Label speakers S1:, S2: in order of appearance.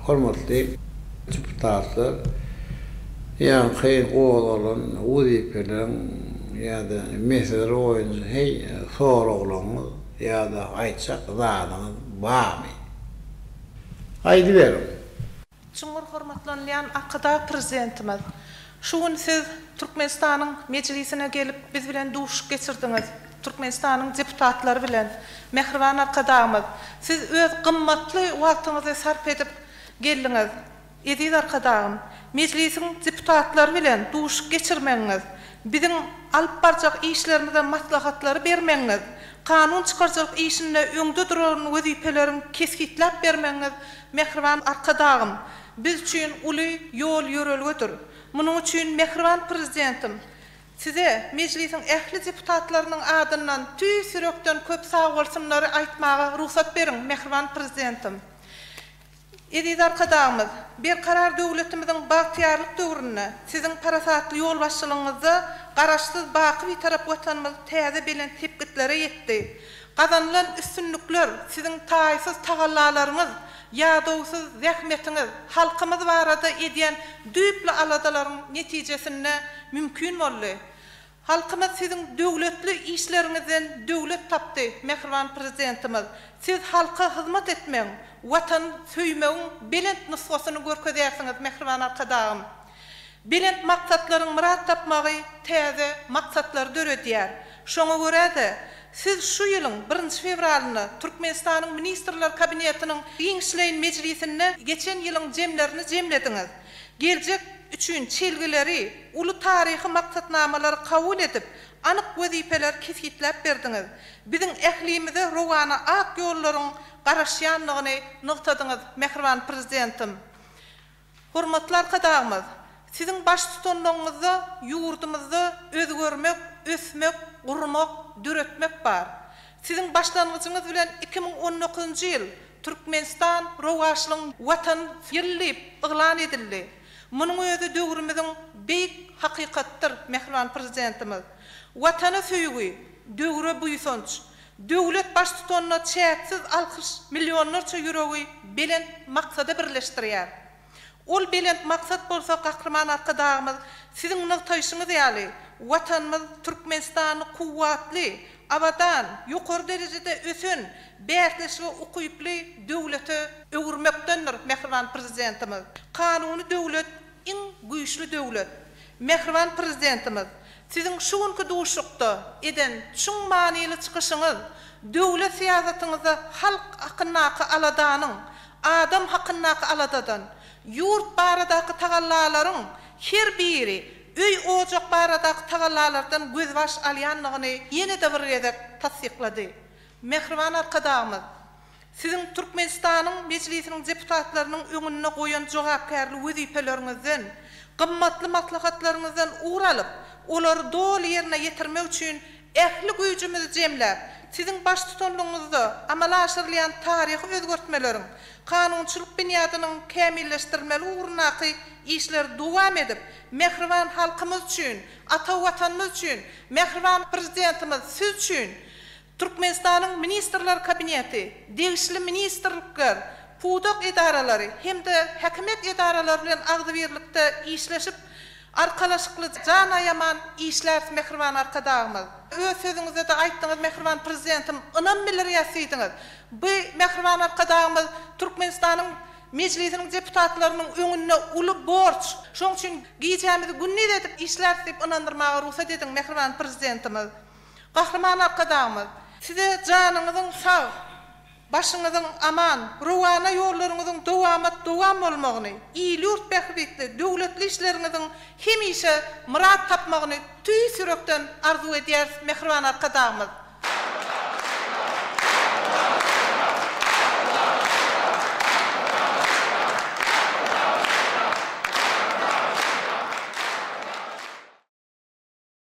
S1: Hormatly deputatlar, ýaňky gozalan wezipeleriň ýa-da meseleler boýunça heý soraglaryňyz ýa-da aýtjak zadyňyz barmy? Aýdyberiň! Çuňňur hormatlanylýan Arkadagprzidentimiz Şu gün siz Türkmenistanyň Mejlisine gelip, biz bilen duşuşyk geçirdiňiz, Türkmenistanyň deputatlary bilen. Mähriban Arkadagymyz, siz öz gymmatly wagtyňyzy sarp edip geldiňiz. Eziz Arkadagym, Mejlisiň deputatlary bilen duşuşyk geçirmegiňiz, biziň alyp barjak işlerimize maslahatlary bermegiňiz, kanun çykaryjylyk işinde öňde duran wezipeleriň kesgitläp bermegiňiz, Mähriban Arkadagym, biz üçin uly ýol-ýörelgedir. Munuň üçin mähriban Prezidentim Size Mejlisiň ähli deputatlarynyň adyndan tüýs ýürekden köp sagbolsunlary aýtmaga rugsat beriň, mähriban Prezidentim! Eziz Arkadagymyz, Berkarar döwletimiziň bagtyýarlyk döwründe Siziň parasatly ýolbaşçylygyňyzda Garaşsyz, baky Bitarap Watanymyz täze belent sepgitlere ýetdi. Gazanylan üstünlikler, siziň taýsyz tagallalaryňyz, ýadawsyz zähmetiňiz, halkymyz barada edýän düýpli aladalaryň netijesinde mümkin boldy. Halkymyz siziň döwletli işleriňizden döwlet tapdy, mähriban Prezidentimiz! Siz halka hyzmat etmegiň, Watany söýmegiň belent nusgasyny görkezýärsiňiz, mähriban Arkadagym! Belent maksatlaryň myrat tapmagy täze maksatlary döredýär. Şoňa görä-de, siz şu ýylyň birinji fewralynda Türkmenistanyň Ministrler Kabinetiniň giňişleýin mejlisinde geçen ýylyň jemlerini jemlediňiz. Geljek üçin çelgileri, uly taryhy maksatnamalary kabul edip, anyk wezipeleri kesgitläp berdiňiz. Biziň ählimize rowana ak ýollaryň garaşýandygyny nygtadyňyz, mähriban Prezidentim. Hormatly Arkadagymyz, Siziň baştutanlygyňyzda ýurdumyzda özgermek, ösmek, gurmak, döretmek bar. Siziň başlangyjyňyz bilen iki müň on dokuzynjy ýyl Türkmenistan rowaçlygyň Watan ýyly diýip yglan edildi. Munuň özi döwrümiziň beýik hakykatdyr, mähriban Prezidentimiz. Watana söýgi, döwre buýsanç, Döwlet Baştutanyna çäksiz alkyş millionlarça ýüregi belent maksada birleşdirýär. Ol belent maksat bolsa Gahryman Arkadagymyz Siziň nygtaýşyňyz ýaly, Watanymyz Türkmenistany kuwwatly, abadan, ýokary derejede ösen, bäsleşige ukyply döwlete öwürmekdendir, mähriban Prezidentimiz Kanuny döwlet, Iň güýçli döwlet. Mähriban Prezidentimiz, Siziň şu günki duşuşykda eden çuň manyly çykyşyňyz döwlet syýasatyňyzda halk hakyndaky aladanyň, adam hakyndaky aladadan, ýurt baradaky tagallalaryň her biri öý-ojak baradaky tagallalardan gözbaş alýandygyny ýene-de bir gezek tassyklady. Mähriban Arkadagymyz, Siziň Türkmenistanyň Mejlisiniň deputatlarynyň öňünde goýan jogapkärli wezipeleriňizden, gymmatly maslahatlaryňyzdan ugur alyp, olary doly ýerine ýetirmek üçin ähli güýjümizi jemläp, Siziň baştutanlygyňyzda amala aşyrylýan taryhy özgertmeleriň, kanunçylyk binýadynyň kämilleşdirilmeli ugrundaky işleri dowam edip, mähriban halkymyz üçin, ata Watanymyz üçin, mähriban Prezidentimiz Siz üçin, Türkmenistanyň Ministrler Kabineti, degişli ministrlikler, pudak edaralary hem-de häkimiýet edaralary bilen agzybirlikde işleşip, arkalaşykly, jan aýaman işläris, mähriban Arkadagymyz! Öz sözüňizde-de aýtdyňyz, mähriban Prezidentim, ynam bildirýäs diýdiňiz. Bu mähriban Arkadagymyz Türkmenistanyň Mejlisiniň deputatlarynyň öňünde uly borç. Şonuň üçin gijämizi gündiz edip işläris diýip ynandyrmaga rugsat ediň, mähriban Prezidentimiz! Gahryman Arkadagymyz, Size janyňyzyň sag, başyňyzyň aman, rowana ýollaryňyzyň dowamat-dowam bolmagyny, il-ýurt bähbitli döwletli işleriňiziň hemişe myrat tapmagyny tüýs ýürekden arzuw edýäris, mähriban Arkadagymyz!